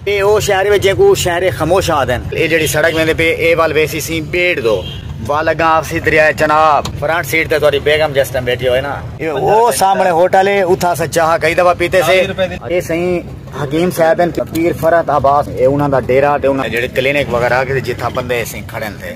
اے او شہر وے جینکوں شہر خموش آہدن۔ اے جیڑھی سڑک ویندے پے اے ول ویسی سیں بیڑ دو ول اگاں آوسی دریا چناب۔ فرنٹ سیٹ تے تہاڈی بیگم جس ٹائم بیٹھی ہوئے نا۔ اے او سامنے ہوٹل ہے اتھاں اساں چاہ کئی دفعہ پیتے سے۔ اے سئیں حکیم صاحب ہن پیر فرحت عباس اے انہاں دا ڈیرہ تے انہاں جیڑھے کلینک وغیرہ کیتے جتھاں بندے سئیں کھڑن تھے۔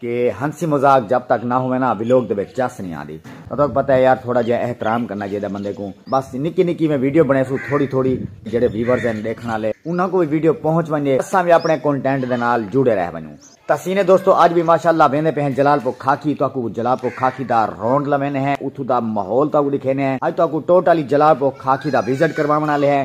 کہ ہنسی مذاق جب تک نہ ہووے نا ویلوگ دے وچ چس نی آندی تاں تہاکوں پتہ ہے یار تھوڑا جیہا احترام کرنا چاہیدا بندے کوں بس نکی نکی میں ویڈیو بنڑیسوں تھوڑی تھوڑی جیہڑے ویورز ہن ڈیکھن آلے انہاں کوں وی ویڈیو پہنچ ونجے اساں وی اپنڑے کونٹینٹ دے نال جڑے رہ ونجوں تاں سینے دوستو اج وی ماشاءاللہ ویندے پئے ہیں جلال پور کھاکی تہاکوں جلال پور کھاکی دا رونڈ لویندے ہیں اتھوں دا ماحول تہاکوں ڈکھیندے ہیں اج تہاکوں ٹوٹلی جلال پور کھاکی دا وزٹ کرواونڑ آلے ہیں۔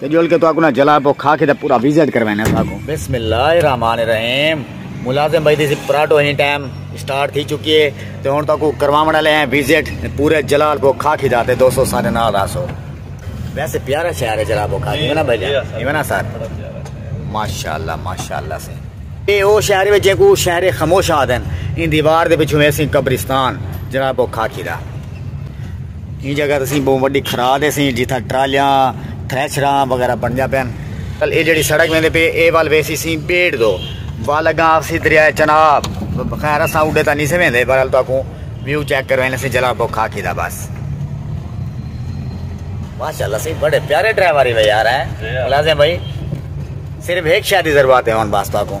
تے جول کے تواکوں نہ جلا پو کھا کے تے پورا وزٹ کروینا تواکوں بسم اللہ الرحمن الرحیم ملازم بھائی دی سی پراٹو ہی ٹائم سٹارٹ تھی چکی ہے تے ہن تواکوں کرواون والے ہیں وزٹ پورے جلال پو کھا کے جاتے دوستو سارے نال راسو ویسے پیارا شہر ہے جلال پو کھا کے نا بھائی جان ایویں نا سر ماشاءاللہ ماشاءاللہ سے اے او شہر وچ جے کو شہر خاموش آدن ان دیوار دے پیچھے ویسی قبرستان جلال پو کھا کے دا ایں جگہ تے سیں بہوں وڈی کھرا دے سیں جتھاں ٹرالیاں تھریشراں وغیرہ بنجا پین کل اے جڑی سڑک ویندے پے اے وال ویسی سیں بیڑ دو وال اگاں آفسی دریا چناب خیر اساں اڈے تا نہیں سے ویندے بہرحال تو اکوں ویو چیک کرو انہیں سیں جلا بو کھا کی دا بس ماشاءاللہ سیں بڑے پیارے ڈرائیوری میں یار ہیں ملازم بھائی صرف ایک شادی ضرورت ہے ہون بس تو اکوں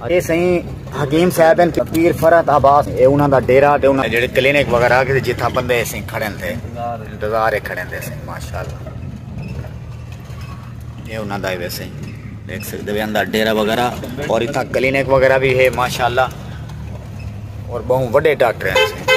اے سئیں حکیم صاحب ہن پیر فرحت عباس اے انہاں دا ڈیرہ تے انہاں جڑے کلینک وغیرہ کیتے جتھاں بندے اے سئیں کھڑن تے انتظار اے کھڑن تے سئیں ماشاءاللہ اے انہاں دا اے سئیں دیکھ سکدے وے اندا ڈیرہ وغیرہ اور اتھا کلینک وغیرہ بھی ہے ماشاءاللہ اور بہوں وڈے ڈاکٹر ہیں سئیں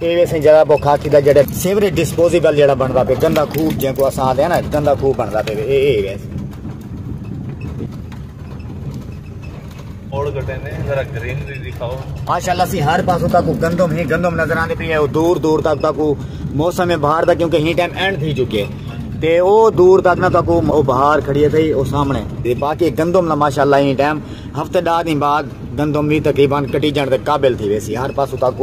اے ویسے جگہ پو کھا کھیدا جڑے سیوری ڈسپوزیبل جڑا بندا پے گندا خوب جے کو اساں دے نا گندا خوب بندا پے اے اے ویسے اور گٹے نے ذرا گرین دی دکھاؤ ماشاءاللہ سی ہر پاسو تک گندم ہی گندم نظر آندے پی ہے او دور دور تک تک موسم بہار دا کیونکہ ہی ٹائم اینڈ تھی چکے تے او دور تک نہ تک او بہار کھڑی تھی او سامنے تے باقی گندم نہ ماشاءاللہ ہی ٹائم ہفتے دار دی بعد گندم بھی تقریبا کٹی جان دے قابل تھی ویسی ہر پاسو تک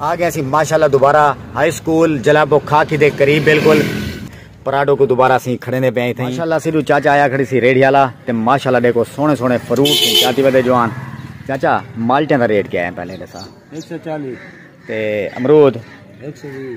آ گئے اسیں ماشاءاللہ دوبارہ ہائی اسکول جلابو خاکی دے قریب بالکل پراڈو کو دوبارہ اسیں کھڑے نے پئے تھے ماشاءاللہ اسی دو چاچا آیا کھڑی سی ریڈی والا تے ماشاءاللہ دیکھو سونے سونے فروٹ تھے چاتی ودے جوان چاچا مالٹیں دا ریٹ کیا ہے پہلے دسا 140 تے امرود 120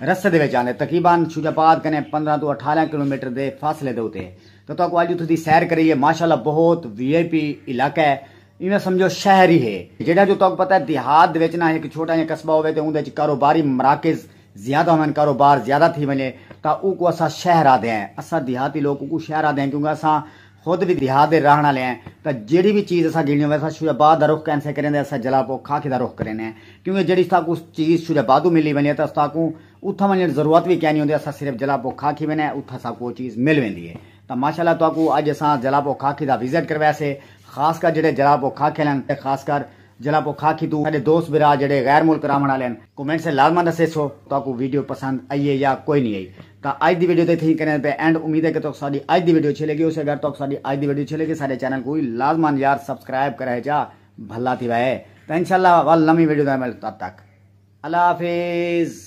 رستے دے وچ آندے تقریبان شجاع آباد کنیں پندرہ توں اٹھارہ کلومیٹر دے فاصلے دے اتے تاں تہاکوں اڄ اتھوں دی سیر کرائیے ماشاءاللہ بہت وی آئی پی علاقہ ہے ایویں سمجھو شہر ہی ہے جیڑھا جو تہاکوں پتہ ہے دیہات دے وچ نا ہک چھوٹا جیاں قصبہ ہووے تے اوندے وچ کاروباری مراکز زیادہ ہوون کاروبار زیادہ تھی ونجے تاں اوکوں اساں شہر آہدے ہیں اساں دیہاتی لوک اوکوں شہر آہدے ہیں کیونکہ اساں خود وی دیہات دے رہݨ آلے ہیں تاں جیڑھی وی چیز اساں گھنڑی ہووے اساں شورے آباد دا رخ کینسے کریندے اساں جلا پو کھاکھے دا رخ کریندے ہیں کیونکہ جیڑھی ساکوں چیز شورے آبادوں ملی ونجے تاں ساکوں اتھاں ونجنڑ ضرورت وی کینی ہوندی اساں صرف جلا پو کھاکھی ویندے ہیں اتھاں ساکوں او چیز مل ویندی ہے تاں ماشاءاللہ تہاکوں اج اساں جلا پو کھاکھی دا وزٹ کرویسے خاص کر جیڑھے جلا پو کھاکھے ہلن تے خاص کر جلاب او کھا کھیتو ساڈے دوست بھرا جیڑھے غیر ملک راون آلے ہن کومنٹ سے لازما دسیسو تہاکو ویڈیو پسند ائی اے یا کوئی نی ائی تاں اج دی ویڈیو تے تھیں کریں پے اینڈ امید اے کہ تہاکو ساڈی اج دی ویڈیو اچھی لگی ہوسی اگر تہاکو ساڈی اج دی ویڈیو اچھی لگی ساڈے چینل کو لازما یار سبسکرائب کرے ہچا بھلا تھیوا اے تاں انشاءاللہ ول نویں ویڈیو دے مل تد تک اللہ حافظ۔